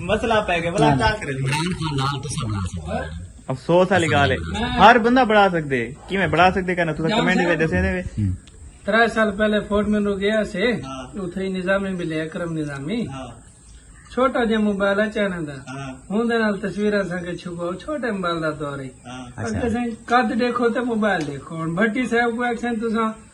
مسئلہ پہ گیا بلا کال کرے افسوس والی گال ہے ہر بندہ بڑھا سکدے کیویں بڑھا سکدے کہنا تساں کمنٹ وچ دسے دے ترے سال پہلے فورٹ مینو گیا سے اتھے ہاں۔ نظامی ملے اکرم نظامی ہاں۔ چھوٹا جہ موبائل ہے چائنا دا ہاں۔ ہوں دے نال تصویراں سان کے چھپو چھوٹے موبائل دا دور ہے اچھا۔ قد دیکھو تے موبائل دیکھو ہن بھٹی صاحب کو ایکسن تساں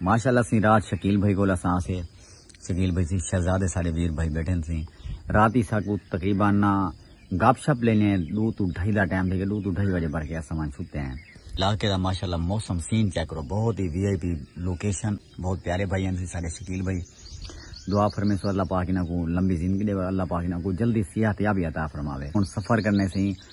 ماشاءاللہ سیں رات شکیل بھائی کول اساں آسے شکیل بھائی سیں شہزادے سارے ویر بھائی بیٹھن سیں رات ہی ساکو تقریبا نا گپ شپ لینے دو تو ڈھائی دا ٹائم تھے گئے دو تو ڈھائی بجے بھر کے اساں مان چھتے ہیں علاقے دا ماشاءاللہ موسم سین چیک کرو بہت ہی وی آئی پی لوکیشن بہت پیارے بھائی ہیں سارے شکیل بھائی دعا فرمے سو اللہ پاک انہاں کو لمبی زندگی دے اللہ پاک انہاں کو جلدی صحت یابی عطا فرماوے ہن سفر کرنے سیں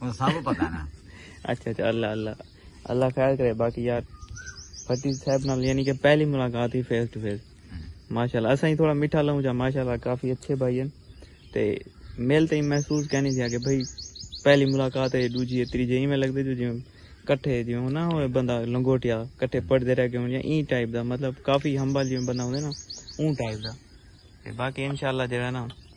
سب پتا نا اچھا اچھا اللہ اللہ اللہ خیر کرے باقی یار فتیح صاحب نال یعنی کہ پہلی ملاقات ہی فیس ٹو فیس ماشاءاللہ اساں ہی تھوڑا میٹھا لوں جا ماشاءاللہ کافی اچھے بھائی ہیں تے مل تے محسوس کہنی جا کہ بھائی پہلی ملاقات ہے دوجی ہے تیجے ایویں لگدے جو جویں کٹھے جویں ہونا ہوئے بندہ لنگوٹیا کٹھے پڑھدے رہ گئے ہوں یا این ٹائپ دا مطلب کافی ہمبل جویں بندہ ہوندے نا اون ٹائپ دا تے باقی انشاءاللہ جڑا نا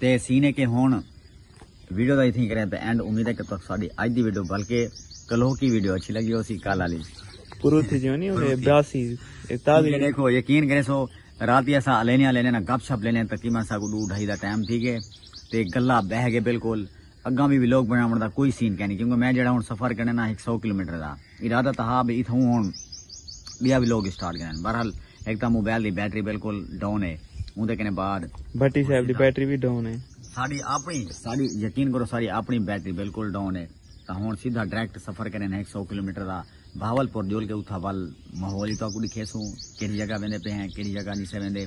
تے سین ہے کہ ہون ویڈیو دا اتھیں کریں تے اینڈ امید ہے کہ تک ساڑی آج دی ویڈیو بلکہ کلو کی ویڈیو اچھی لگی ہو سی کال آلی پرو تھی جو نہیں ہونے براسی تازی دیکھو یقین کریں سو راتی ایسا علینا لینا گپ شپ لینا تقریبا سا کو دو ڈھائی دا ٹائم تھی گئے تے گلہ بہ گئے بالکل اگاں بھی ویلوگ بنا دا کوئی سین کہنی کیونکہ میں جڑا ہوں سفر کرنے نا ایک سو کلومیٹر دا ارادہ تاں ہا بھئی اتھاؤں ہن بیا وی لوگ اسٹارٹ گھنن بہرحال ہک تاں موبائل دی بیٹری بالکل ڈاؤن ہے اوندے کنے بعد بھٹی صاحب دی بیٹری وی ڈاؤن ہے۔ ساڈی آپنی ساڈی یقین کرو ساڈی آپنی بیٹری بالکل ڈاؤن ہے تاں ہن سیدھا ڈائریکٹ سفر کرن ہک سو کلومیٹر دا بہاول پور جول کے اتھاں ول ماحول ہی تہاکوں ڈکھیسوں کیڑھی جگہ ویندے پئے ہیں کیڑھی جگہ نی سے ویندے